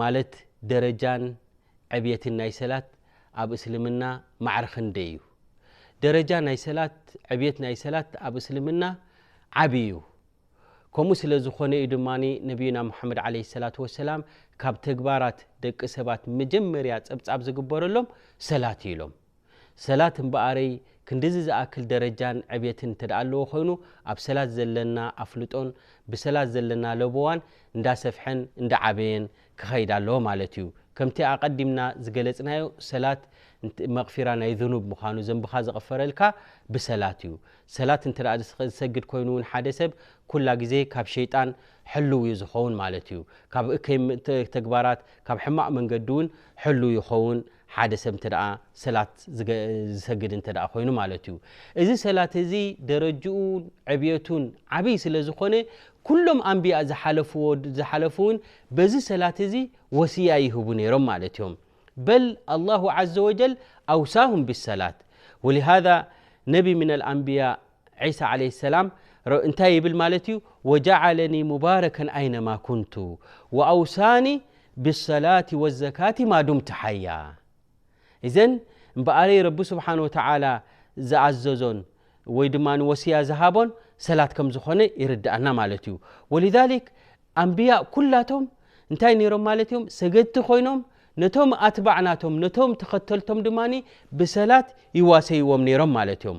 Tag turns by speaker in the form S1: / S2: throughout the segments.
S1: ማለት ደረጃን ዕብየትን ናይ ሰላት ኣብ እስልምና ማዕረ ክንደይ እዩ? ደረጃ ናይ ሰላት ዕብየት ናይ ሰላት ኣብ እስልምና ዓቢ እዩ። ከምኡ ስለ ዝኾነ እዩ ድማ ነብዩና ሙሓመድ ዓለይሂ ሰላቱ ወሰላም ካብ ተግባራት ደቂ ሰባት መጀመርያ ጸብጻብ ዝግበረሎም ሰላት እዩ ኢሎም። ሰላት እምበኣረይ ክንድዚ ዝኣክል ደረጃን ዕብየትን እንተድኣ ኣለዎ ኮይኑ ኣብ ሰላት ዘለና ኣፍልጦን ብሰላት ዘለና ለበዋን እንዳሰፍሐን እንዳዓበየን ክኸይድ ኣለዎ ማለት እዩ። ከምቲ ኣቐዲምና ዝገለጽናዮ ሰላት መቕፊራ ናይ ዙኑብ ምዃኑ ዘንብኻ ዝቕፈረልካ ብሰላት እዩ። ሰላት እንተድኣ ዝሰግድ ኮይኑ እውን ሓደ ሰብ ኩላ ግዜ ካብ ሸይጣን ሕልው እዩ ዝኸውን ማለት እዩ። ካብ እከይ ተግባራት ካብ ሕማቕ መንገዲ እውን ሕልው ይኸውን ሓደ ሰብ እንተ ሰላት ዝሰግድ እንተ ኮይኑ ማለት እዩ እዚ ሰላት እዚ ደረጅኡን ዕብየቱን ዓብይ ስለ ዝኾነ ኩሎም ኣንቢያ ዝሓለፍዎ ዝሓለፉ እውን በዚ ሰላት እዚ ወስያ ይህቡ ነይሮም ማለት እዮም በል ኣላሁ ዘ ወጀል ኣውሳሁም ብሰላት ወሊሃ ነቢ ምና ኣንብያ ዒሳ ዓለይሂ ሰላም እንታይ ይብል ማለት እዩ ወጃዓለኒ ሙባረከን ኣይነማ ኩንቱ ወኣውሳኒ ብሰላቲ ወዘካቲ ማዱምቲ ሓያ እዘን እምበኣረይ ረቢ ስብሓን ወተዓላ ዝኣዘዞን ወይ ድማ ወስያ ዝሃቦን ሰላት ከም ዝኾነ ይርድኣና ማለት እዩ ወልዛሊክ ኣንብያ ኩላቶም እንታይ ነይሮም ማለት እዮም ሰገድቲ ኮይኖም ነቶም ኣትባዕ ናቶም ነቶም ተኸተልቶም ድማ ብሰላት ይዋሰይዎም ነይሮም ማለት እዮም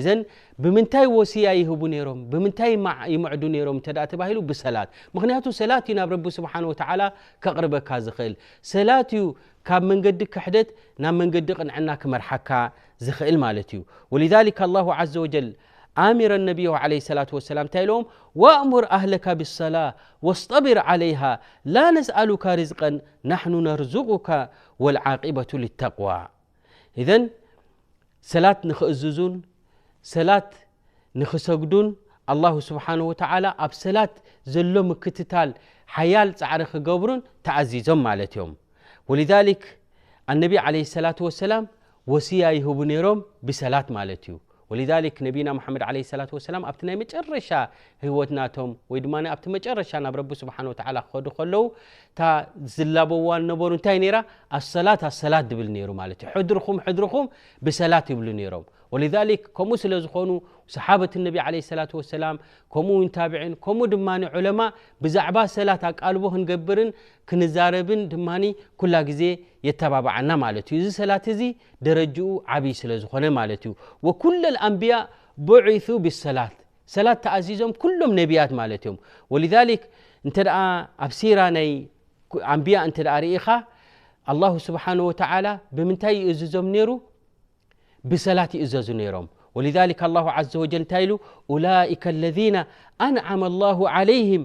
S1: እዘን ብምንታይ ወሲያ ይህቡ ነይሮም ብምንታይ ይምዕዱ ነይሮም እተ ተባሂሉ ብሰላት ምክንያቱ ሰላት እዩ ናብ ረቢ ስብሓን ወተዓላ ከቕርበካ ዝኽእል ሰላት እዩ ካብ መንገዲ ክሕደት ናብ መንገዲ ቕንዕና ክመርሓካ ዝኽእል ማለት እዩ ወልሊክ ኣላሁ ዘ ወጀል ኣሚረ ነብዮ ለ ሰላት ወሰላም እንታይ ኢለዎም ወእሙር ኣህለካ ብሰላ ወስጠቢር ዓለይሃ ላ ነስኣሉካ ርዝቀን ናሕኑ ነርዙቁካ ወልዓቂበቱ ልተቅዋ እዘን ሰላት ንክእዝዙን ሰላት ንክሰግዱን ኣላሁ ስብሓን ወተላ ኣብ ሰላት ዘሎ ምክትታል ሓያል ፃዕሪ ክገብሩን ተኣዚዞም ማለት እዮም ወልሊክ ኣነቢ ለ ሰላት ወሰላም ወስያ ይህቡ ነይሮም ብሰላት ማለት እዩ ወሊዛሊክ ነቢይና ሙሓመድ ዓለይሂ ሰላቱ ወሰላም ኣብቲ ናይ መጨረሻ ህይወት ናቶም ወይ ድማ ኣብቲ መጨረሻ ናብ ረቢ ስብሓነሁ ወተዓላ ክኸዱ ከለዉ እታ ዝላበዋ ዝነበሩ እንታይ ነይራ ኣሰላት ኣሰላት ዝብል ነይሩ ማለት እዩ ሕድርኹም ሕድርኹም ብሰላት ይብሉ ነይሮም ወሊዛሊክ ከምኡ ስለ ዝኾኑ ሰሓበት ነቢ ዓለይሂ ሰላቱ ወሰላም ከምኡ እውን ታብዒን ከምኡ ድማ ዑለማ ብዛዕባ ሰላት ኣቃልቦ ክንገብርን ክንዛረብን ድማ ኩላ ግዜ የተባብዓና ማለት እዩ እዚ ሰላት እዚ ደረጅኡ ዓብይ ስለ ዝኾነ ማለት እዩ። ወኩለል ኣንብያ ቡዒሱ ብሰላት ሰላት ተኣዚዞም ኩሎም ነብያት ማለት እዮም። ወሊዛሊክ እንተ ኣብ ሲራ ናይ ኣንብያ እንተ ርኢኻ ኣላሁ ስብሓን ወተዓላ ብምንታይ ይእዝዞም ነይሩ ብሰላት ይእዘዙ ነይሮም። ወሊዛሊክ ኣላሁ ዓዘ ወጀል እንታይ ኢሉ ኡላኢከ ለዚነ ኣንዓመ ኣላሁ ዓለይህም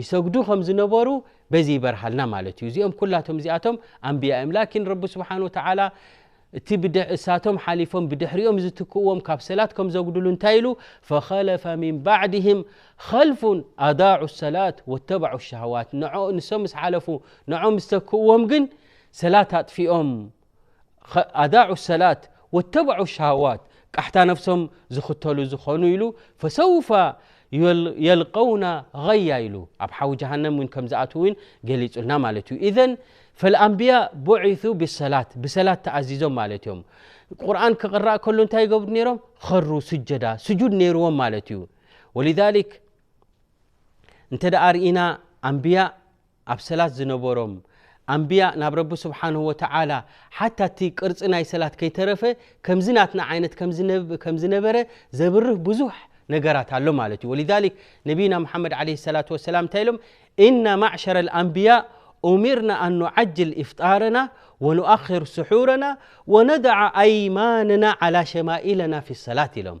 S1: ይሰግዱ ከም ዝነበሩ በዚ ይበርሃልና ማለት እዩ እዚኦም ኩላቶም እዚኣቶም ኣንብያ እዮም ላኪን ረቢ ስብሓን ወተዓላ እቲ እሳቶም ሓሊፎም ብድሕሪኦም ዝትክእዎም ካብ ሰላት ከም ዘጉድሉ እንታይ ኢሉ ፈኸለፈ ምን ባዕድህም ኸልፉን ኣዳዑ ሰላት ወተባዑ ሸሃዋት ንሶም ምስ ሓለፉ ንዖም ዝተክእዎም ግን ሰላት ኣጥፊኦም ኣዳዑ ሰላት ወተበዑ ሸሃዋት ቃሕታ ነፍሶም ዝኽተሉ ዝኾኑ ኢሉ ፈሰውፋ የልቀውና غያ ኢሉ ኣብ ሓዊ ጀሃንም ውን ከም ዝኣትው ውን ገሊጹልና ማለት እዩ ኢዘን ፈልኣንብያ ቡዒሱ ብሰላት ብሰላት ተኣዚዞም ማለት እዮም ቁርን ክቕራእ ከሉ እንታይ ይገብሩ ነይሮም ኸሩ ስጀዳ ስጁድ ነይርዎም ማለት እዩ ወልሊክ እንተ ደኣ ርኢና ኣንብያ ኣብ ሰላት ዝነበሮም ኣንብያ ናብ ረቢ ስብሓንሁ ወተዓላ ሓታ እቲ ቅርፂ ናይ ሰላት ከይተረፈ ከምዚ ናትና ዓይነት ከም ዝነበረ ዘብርህ ብዙሕ ነገራት ኣሎ ማለት እዩ ወልዛሊክ ነቢና ሙሓመድ ዓለ ሰላት ወሰላም እንታይ ኢሎም እና ማዕሸረ ኣንብያ ኡሚርና ኣን ኑዓጅል ኢፍጣርና ወኑኣክር ስሑርና ወነድዓ ኣይማንና ዓላ ሸማኢለና ፊ ሰላት ኢሎም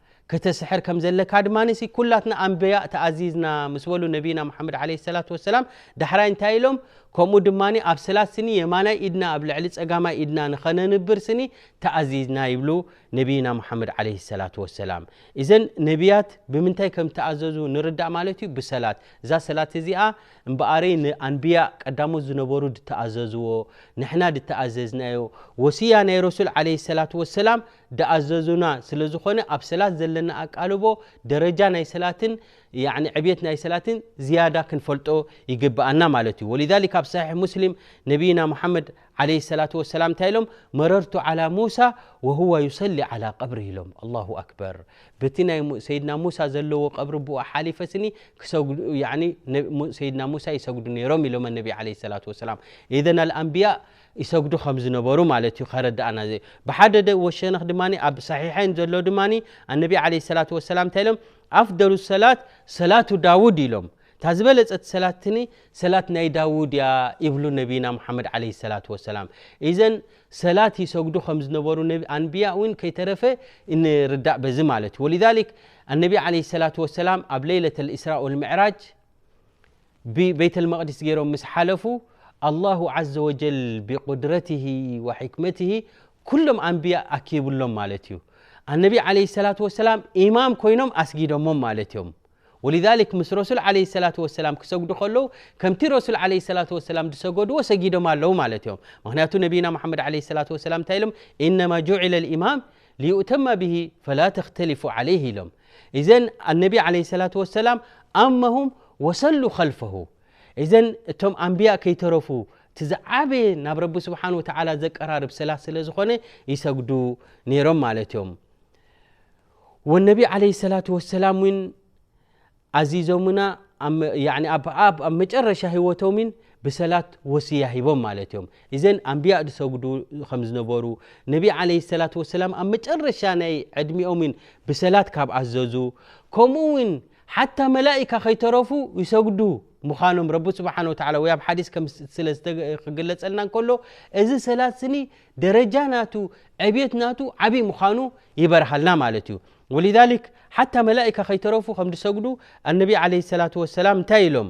S1: ክትስሕር ከም ዘለካ ድማ ሲ ኩላትና ኣንበያእ ተኣዚዝና ምስ በሉ ነቢና መሓመድ ዓለይሂ ሰላቱ ወሰላም ዳሕራይ እንታይ ኢሎም ከምኡ ድማ ኣብ ሰላት ስኒ የማናይ ኢድና ኣብ ልዕሊ ጸጋማይ ኢድና ንኸነንብር ስኒ ተኣዚዝና ይብሉ ነቢና መሓመድ ዓለይሂ ሰላቱ ወሰላም እዘን ነቢያት ብምንታይ ከም ተኣዘዙ ንርዳእ ማለት እዩ ብሰላት እዛ ሰላት እዚኣ እምበኣረይ ንኣንብያእ ቀዳሞት ዝነበሩ ድተኣዘዝዎ ንሕና ድተኣዘዝናዮ ወስያ ናይ ረሱል ዓለይሂ ሰላቱ ወሰላም ድኣዘዙና ስለ ዝኾነ ኣብ ሰላት ዘለና ኣቃልቦ ደረጃ ናይ ሰላትን ያኒ ዕብየት ናይ ሰላትን ዝያዳ ክንፈልጦ ይግብኣና ማለት እዩ ወሊዛሊክ ኣብ ሰሒሕ ሙስሊም ነቢይና ሙሓመድ ዓለይሂ ሰላቱ ወሰላም እንታይ ኢሎም መረርቱ ዓላ ሙሳ ወሁዋ ዩሰሊ ዓላ ቀብሪ ኢሎም ኣላሁ ኣክበር በቲ ናይ ሰይድና ሙሳ ዘለዎ ቀብሪ ብኡ ሓሊፈ ስኒ ክሰግዱ ያኒ ሰይድና ሙሳ ይሰግዱ ነይሮም ኢሎም ነቢ ዓለይሂ ሰላቱ ወሰላም ኢዘን ኣልኣንቢያ ይሰግዱ ከም ዝነበሩ ማለት እዩ ከረድኣና ዘ ብሓደ ደ ወሸነኽ ድማ ኣብ ሳሒሐይን ዘሎ ድማ ኣነቢ ዓለ ሰላት ወሰላም እንታይ ኢሎም ኣፍደሉ ሰላት ሰላቱ ዳውድ ኢሎም እታ ዝበለጸት ሰላትኒ ሰላት ናይ ዳውድ እያ ይብሉ ነቢና ሙሓመድ ዓለ ሰላት ወሰላም እዘን ሰላት ይሰግዱ ከም ዝነበሩ ኣንብያ እውን ከይተረፈ ንርዳእ በዚ ማለት እዩ ወልዛሊክ ኣነቢ ዓለ ሰላት ወሰላም ኣብ ለይለት ልእስራ ወልምዕራጅ ብበይተልመቅዲስ ገይሮም ምስ ሓለፉ ኣላሁ ዓዘ ወጀል ብቁድረትሂ ወሕክመትሂ ኩሎም ኣንብያ ኣኪብሎም ማለት እዩ ኣነቢ ዓለ ሰላት ወሰላም ኢማም ኮይኖም ኣስጊዶሞም ማለት እዮም ወልዛሊክ ምስ ረሱል ዓለ ሰላት ወሰላም ክሰግዱ ከለዉ ከምቲ ረሱል ዓለ ሰላት ወሰላም ዝሰገድዎ ሰጊዶም ኣለዉ ማለት እዮም ምክንያቱ ነቢና መሓመድ ዓለ ሰላት ወሰላም እንታይ ኢሎም ኢነማ ጁዒለ ልኢማም ልዩእተማ ብሂ ፈላ ተክተሊፉ ዓለይህ ኢሎም ኢዘን ኣነቢ ዓለይሂ ሰላቱ ወሰላም ኣመሁም ወሰሉ ኸልፈሁ ኢዘን እቶም ኣንብያ ከይተረፉ እቲ ዝዓበየ ናብ ረቢ ስብሓን ወተዓላ ዘቀራርብ ሰላት ስለ ዝኾነ ይሰግዱ ነይሮም ማለት እዮም ወነቢ ዓለይሂ ሰላቱ ወሰላም እውን ኣዚዞምና ኣብ መጨረሻ ህይወቶም ን ብሰላት ወስያ ሂቦም ማለት እዮም ኢዘን ኣንብያ ዝሰግዱ ከም ዝነበሩ ነቢ ዓለይሂ ሰላቱ ወሰላም ኣብ መጨረሻ ናይ ዕድሚኦም ውን ብሰላት ካብ ኣዘዙ ከምኡ ውን ሓታ መላኢካ ከይተረፉ ይሰግዱ ምዃኖም ረቢ ስብሓን ወተዓላ ወይ ኣብ ሓዲስ ከም ስለ ክግለጸልና እንከሎ እዚ ሰላት ስኒ ደረጃ ናቱ ዕብየት ናቱ ዓብይ ምዃኑ ይበርሃልና ማለት እዩ ወሊዛሊክ ሓታ መላኢካ ከይተረፉ ከም ዝሰግዱ ኣነቢ ዓለይሂ ሰላቱ ወሰላም እንታይ ኢሎም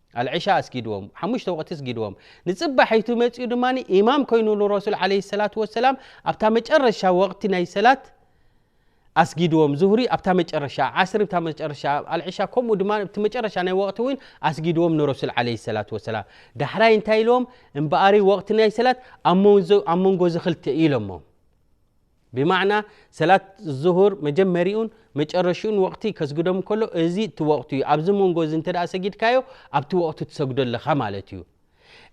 S1: ኣልዕሻ ኣስጊድዎም፣ ሓሙሽተ ወቕቲ ስጊድዎም፣ ንጽባሒቱ መጺኡ ድማ ኢማም ኮይኑ ንረሱል ዓለይሂ ሰላቱ ወሰላም ኣብታ መጨረሻ ወቕቲ ናይ ሰላት ኣስጊድዎም፣ ዙህሪ ኣብታ መጨረሻ፣ ዓስሪ ኣብታ መጨረሻ፣ ኣልዕሻ ከምኡ ድማ ኣብቲ መጨረሻ ናይ ወቕቲ እውን ኣስጊድዎም ንረሱል ዓለይሂ ሰላቱ ወሰላም። ዳሕራይ እንታይ ኢልዎም? እምበኣሪ ወቕቲ ናይ ሰላት ኣብ መንጎ እዚ ክልተ እዩ ኢሎሞም። ብማዕና ሰላት ዙሁር መጀመሪኡን መጨረሽኡን ወቕቲ ከስግዶም ከሎ እዚ እቲ ወቕቱ እዩ ኣብዚ መንጎ እዚ እንተ ሰጊድካዮ ኣብቲ ወቕቱ ትሰግዶ ኣለኻ ማለት እዩ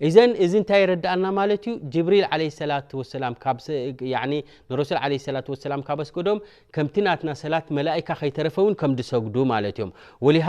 S1: እዘን እዚ እንታይ ይረዳእና ማለት እዩ ጅብሪል ለ ሰላት ወሰላም ንረሱል ለ ሰላት ወሰላም ካብ ኣስገዶም ከምቲ ናትና ሰላት መላእካ ከይተረፈ እውን ከም ዝሰግዱ ማለት እዮም ወሊሃ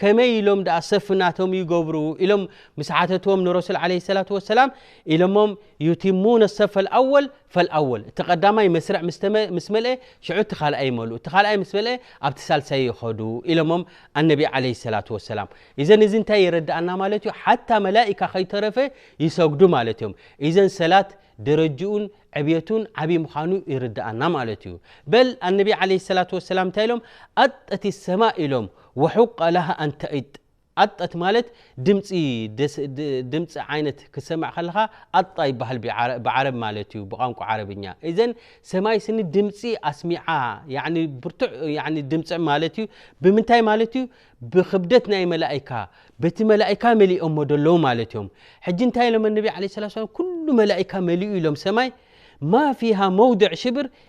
S1: ከመይ ኢሎም ደኣ ሰፍ ናቶም ይገብሩ ኢሎም ምስ ሓተትዎም ንረሱል ዓለ ሰላት ወሰላም ኢሎሞም ዩቲሙነ ሰፍ ፈልኣወል ፈልኣወል እቲ ቀዳማይ መስርዕ ምስ መልአ ሽዑ እቲ ካልኣይ ይመልኡ እቲ ካልኣይ ምስ መልአ ኣብቲ ሳልሳይ ይኸዱ ኢሎሞም ኣነቢ ዓለ ሰላት ወሰላም እዘን እዚ እንታይ ይረድኣና ማለት እዩ ሓታ መላኢካ ከይተረፈ ይሰግዱ ማለት እዮም እዘን ሰላት ደረጅኡን ዕብየቱን ዓብዪ ምዃኑ ይርድኣና ማለት እዩ በል ኣነቢ ዓለ ሰላት ወሰላም እንታይ ኢሎም ኣጠቲ ሰማ ኢሎም ወሑቀ ለሃ ኣን ተኢጥ ኣጠት ማለት ድምጺ ድምጺ ዓይነት ክትሰምዕ ከለኻ ኣጣ ይበሃል ብዓረብ ማለት እዩ ብቛንቋ ዓረብኛ እዘን ሰማይ ስኒ ድምጺ ኣስሚዓ ያኒ ብርቱዕ ያኒ ድምጽዕ ማለት እዩ ብምንታይ ማለት እዩ ብክብደት ናይ መላኢካ በቲ መላኢካ መሊኦሞ ደለዉ ማለት እዮም ሕጂ እንታይ ኢሎም ነቢ ዓለ ስላ ሰላም ኩሉ መላኢካ መሊኡ ኢሎም ሰማይ ማ ፊሃ መውድዕ ሽብር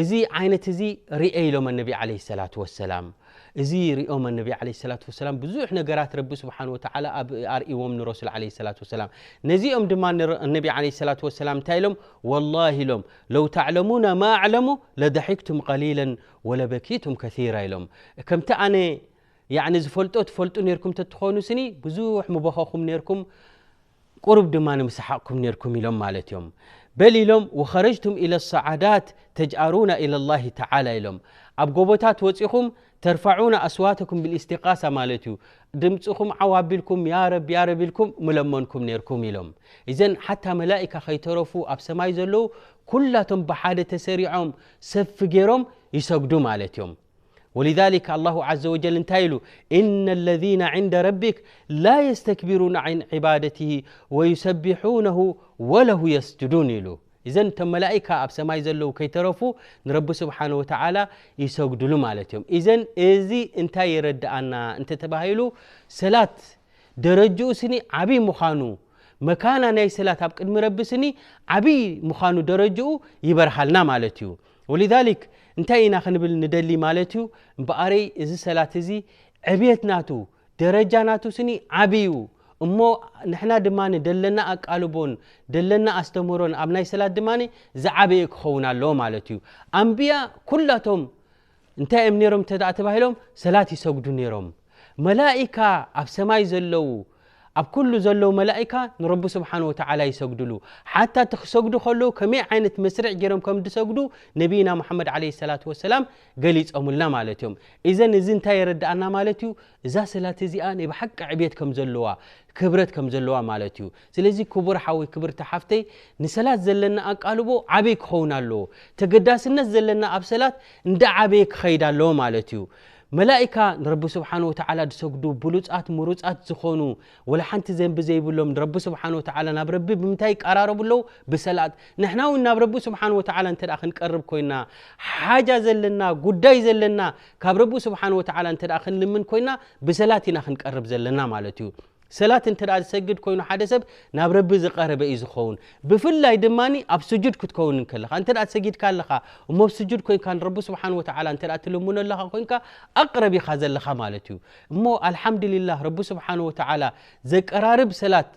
S1: እዚ ዓይነት እዚ ርኤ ኢሎም ኣነቢ ዓለ ሰላት ወሰላም እዚ ርኦም ኣነቢ ዓለ ሰላት ወሰላም ብዙሕ ነገራት ረቢ ስብሓን ወተዓላ ኣብ ኣርእዎም ንረሱል ዓለ ሰላት ወሰላም ነዚኦም ድማ ኣነቢ ዓለ ሰላት ወሰላም እንታይ ኢሎም ወላሂ ኢሎም ለው ተዕለሙና ማ ኣዕለሙ ለደሒክቱም ቀሊለን ወለበኪቱም ከራ ኢሎም ከምቲ ኣነ ያኒ ዝፈልጦ ትፈልጡ ነርኩም ተትኾኑ ስኒ ብዙሕ ምበኸኹም ነርኩም ቁሩብ ድማ ንምሰሓቕኩም ኔርኩም ኢሎም ማለት እዮም በል ኢሎም ወኸረጅቱም ኢለ ሰዓዳት ተጅኣሩና ኢለ ላሂ ተዓላ ኢሎም ኣብ ጎቦታት ወፂኹም ተርፋዑና ኣስዋተኩም ብልእስቲቃሳ ማለት እዩ ድምፅኹም ዓው ኣቢልኩም ያረብ ያረብ ኢልኩም ምለመንኩም ኔርኩም ኢሎም እዘን ሓታ መላኢካ ከይተረፉ ኣብ ሰማይ ዘለዉ ኩላቶም ብሓደ ተሰሪዖም ሰፊ ገይሮም ይሰግዱ ማለት እዮም ወሊዛሊክ ኣላሁ ዓዘ ወጀል እንታይ ኢሉ እነ ለዚነ ዕንደ ረቢክ ላ የስተክቢሩን ን ዕባደትሂ ወዩሰቢሑነሁ ወለሁ የስጅዱን ኢሉ እዘን እቶም መላኢካ ኣብ ሰማይ ዘለዉ ከይተረፉ ንረቢ ስብሓን ወተዓላ ይሰግድሉ ማለት እዮም እዘን እዚ እንታይ የረድኣና እንተ ተባሂሉ ሰላት ደረጅኡ ስኒ ዓብይ ምዃኑ መካና ናይ ሰላት ኣብ ቅድሚ ረቢ ስኒ ዓብይ ምዃኑ ደረጅኡ ይበርሃልና ማለት እዩ ወሊዛሊክ እንታይ ኢና ክንብል ንደሊ ማለት እዩ እምበኣረይ እዚ ሰላት እዚ ዕብየት ናቱ ደረጃ ናቱ ስኒ ዓብይ እዩ እሞ ንሕና ድማ ደለና ኣቃልቦን ደለና ኣስተምህሮን ኣብ ናይ ሰላት ድማ ዝዓበየ ክኸውን ኣለዎ ማለት እዩ ኣንብያ ኩላቶም እንታይ እዮም ነሮም እተ ተባሂሎም ሰላት ይሰግዱ ነይሮም መላእካ ኣብ ሰማይ ዘለዉ ኣብ ኩሉ ዘለዉ መላኢካ ንረቢ ስብሓን ወተዓላ ይሰግድሉ ሓታ እቲ ክሰግዱ ከለዉ ከመይ ዓይነት መስርዕ ገይሮም ከም ድሰግዱ ነቢይና ሙሓመድ ዓለ ሰላት ወሰላም ገሊፆምልና ማለት እዮም እዘን እዚ እንታይ የረድኣና ማለት እዩ እዛ ሰላት እዚኣ ናይ ብሓቂ ዕብት ከም ዘለዋ ክብረት ከም ዘለዋ ማለት እዩ ስለዚ ክቡር ሓወይ ክብርቲ ሓፍተይ ንሰላት ዘለና ኣቃልቦ ዓበይ ክኸውን ኣለዎ ተገዳስነት ዘለና ኣብ ሰላት እንዳ ዓበየ ክኸይድ ኣለዎ ማለት እዩ መላኢካ ንረቢ ስብሓን ወተዓላ ዝሰግዱ ብሉፃት ምሩፃት ዝኾኑ ወላ ሓንቲ ዘንቢ ዘይብሎም ንረቢ ስብሓን ወተዓላ ናብ ረቢ ብምንታይ ይቀራረቡ ኣለዉ ብሰላት ንሕና እውን ናብ ረቢ ስብሓን ወተዓላ እንተ ክንቀርብ ኮይና ሓጃ ዘለና ጉዳይ ዘለና ካብ ረቢ ስብሓን ወተዓላ እንተ ክንልምን ኮይና ብሰላት ኢና ክንቀርብ ዘለና ማለት እዩ ሰላት እንተ ዝሰግድ ኮይኑ ሓደ ሰብ ናብ ረቢ ዝቀረበ እዩ ዝኸውን ብፍላይ ድማ ኣብ ስጁድ ክትከውን ከለኻ እንተ ሰጊድካ ኣለኻ እሞ ብ ስጁድ ኮንካ ንረቢ ስብሓን ወተዓላ እተ ትልምኖ ኣለኻ ኮንካ ኣቅረብ ኢኻ ዘለኻ ማለት እዩ እሞ ኣልሓምድልላህ ረቢ ስብሓን ወተዓላ ዘቀራርብ ሰላት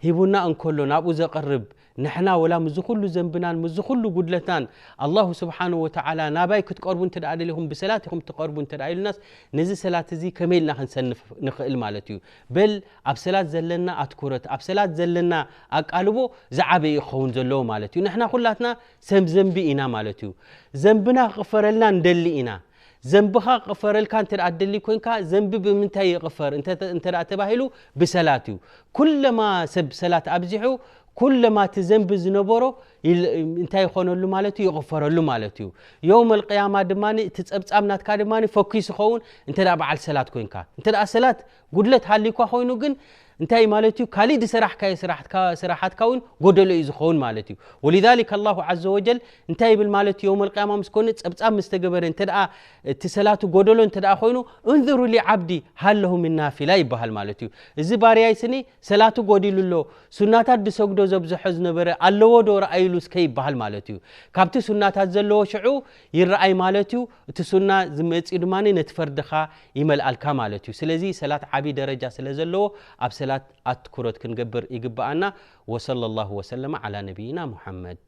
S1: ሂቡና እንከሎ ናብኡ ዘቅርብ ንሕና ወላ ምስዚ ኩሉ ዘንብናን ምስዚ ኩሉ ጉድለትናን ኣላሁ ስብሓነሁ ወተዓላ ናባይ ክትቀርቡ እንተደኣ ደሊኹም ብሰላት ኢኹም ትቐርቡ እንተደኣ ኢሉናስ ነዚ ሰላት እዚ ከመይ ኢልና ክንሰንፍ ንኽእል ማለት እዩ። በል ኣብ ሰላት ዘለና ኣትኩረት ኣብ ሰላት ዘለና ኣቃልቦ ዝዓበየ እዩ ክኸውን ዘለዎ ማለት እዩ። ንሕና ኩላትና ሰብ ዘንቢ ኢና ማለት እዩ። ዘንብና ክቕፈረልና ንደሊ ኢና። ዘንብኻ ክቕፈረልካ እንተ ትደሊ ኮንካ ዘንቢ ብምንታይ ይቕፈር እንተ ተባሂሉ ብሰላት እዩ። ኩለማ ሰብ ሰላት ኣብዚሑ ኩለማ እቲ ዘንቢ ዝነበሮ እንታይ ይኾነሉ ማለት እዩ ይቕፈረሉ ማለት እዩ። የውም ኣልቅያማ ድማ እቲ ጸብጻብ ናትካ ድማ ፈኪስ ይኸውን እንተ በዓል ሰላት ኮንካ እንተ ሰላት ጉድለት ሃልዩኳ ኮይኑ ግን እንታይ ማለት እዩ ካሊእ ዝሰራሕካዮ ስራሓትካ እውን ጎደሎ እዩ ዝኸውን ማለት እዩ ወሊዛሊክ ኣላሁ ዓዘ ወጀል እንታይ ይብል ማለት እዩ የውም ኣልቅያማ ምስ ኮነ ፀብፃብ ምስ ተገበረ እንተ እቲ ሰላቱ ጎደሎ እንተ ኮይኑ እንዝሩ ሊዓብዲ ሃለሁ ምን ናፊላ ይበሃል ማለት እዩ እዚ ባርያይ ስኒ ሰላቱ ጎዲሉ ኣሎ ሱናታት ዝሰግዶ ዘብዝሖ ዝነበረ ኣለዎ ዶ ረኣይሉ እስከ ይበሃል ማለት እዩ ካብቲ ሱናታት ዘለዎ ሽዑ ይረኣይ ማለት እዩ እቲ ሱና ዝመጽዩ ድማ ነቲ ፈርድኻ ይመልኣልካ ማለት እዩ። ስለዚ ሰላት ዓቢ ደረጃ ስለ ዘለዎ ኣብ ሰላት ኣትኩሮት ክንገብር ይግብኣና። ወሰለላሁ ወሰለመ ዓላ ነቢይና ሙሓመድ።